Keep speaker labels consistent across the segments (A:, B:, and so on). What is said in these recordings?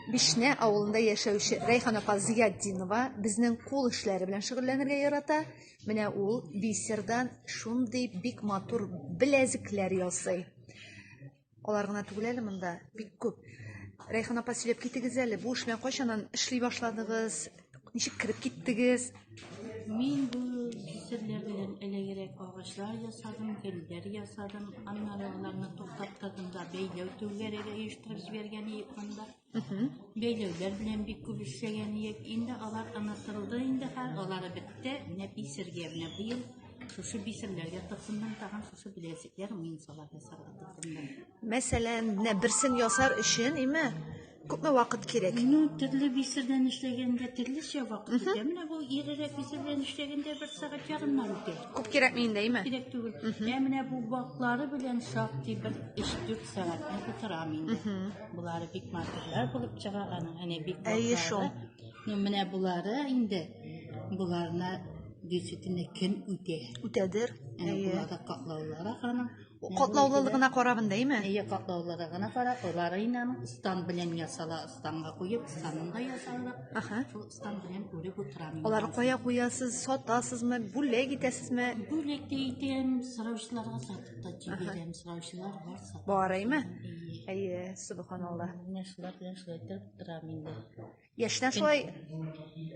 A: Бишнә авылында яшәүче Рәйхан апа Зыятдинова безнең кул эшләре белән шөгыльләнергә ярата. Менә ул бисердан шундый бик матур беләзекләр ясый. Алар гына түгел әле монда, бик күп. Рәйхан апа, сөйләп китегез әле, бу эш белән кайчаннан эшли башладыгыз? Ничек кереп киттегез? Мин
B: бу кисерләр белән элегрәк агачлар ясадым, гөлләр ясадым. Аннары аларны туктаттырдым да бәйләү түгәрәге оештырып җибәргән идек монда. Бәйләүләр белән бик күп эшләгән идек. Инде алар онытылды инде хәл, алары бетте. Менә бисергә менә быел шушы бисерләргә тыксыннан тагын шушы беләзекләр мин салат ясарга тыксыннан. Мәсәлән, менә
A: берсен ясар өчен, име? Күпме вакыт кирәк? Ну, төрле бисә
B: белән эшләгәндә төрлечә вакыт үтә. Менә бу ирерәк бисә белән эшләгәндә бер сәгать ярымнан үтә. Күп кирәкми инде, әйме?
A: Кирәк түгел. Ә
B: менә бу ваклары белән шактый бер 3-4 сәгатьне тутырам инде. Булары бик матурлар булып чыга аның. Әнә бик Әйе шул. ваклары.
A: Ну, менә
B: булары инде буларына действительно кем үтә? Үтәдер. Әнә
A: Әйе. буларда
B: каклаулары аның. Катлаулылыгына
A: карабын дәйме? Әйе, катлаулылыгына кара,
B: олары инәм стан белән ясала, станга куеп, станын да ясалдык. Аха. Шул стан белән үреп утырам. Алар кая куясыз,
A: сатасызмы, бүләк итәсезме? Бүләк тә итәм,
B: сораучыларга сатып та җибәрәм, сораучылар бар сатып. Бараймы?
A: Әйе, субханалла. Менә шулар
B: белән шулай торып торам инде. Яшьтән шулай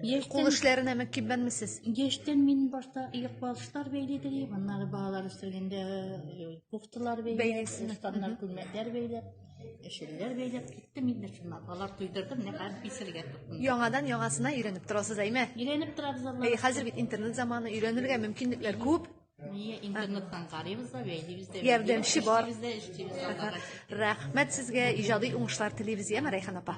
A: Яшьтән, кул эшләренә мөкиббәнмесез? яшьтән мин
B: башта икбалчылар бәйле телим, аннары балалар үстергәндә э, кофталар бәйләп, Бәйлисез. устаннар күлмәкләр бәйләп, эшелләр бәйләп киттем инде шуннан. Алар туйдырдым, менә хәзер писергә тотындым. Яңадан яңасына
A: өйрәнеп торасыз, әйме? Өйрәнеп торабыз Аллаһ. Әй,
B: хәзер бит интернет заманы,
A: өйрәнергә мөмкинлекләр күп.
B: Ние интернеттан карыйбыз да, бәйлибез дә.
A: Ярдәмче бар. Рәхмәт сезгә, иҗади уңышлар телибез, яме Рәйхан апа.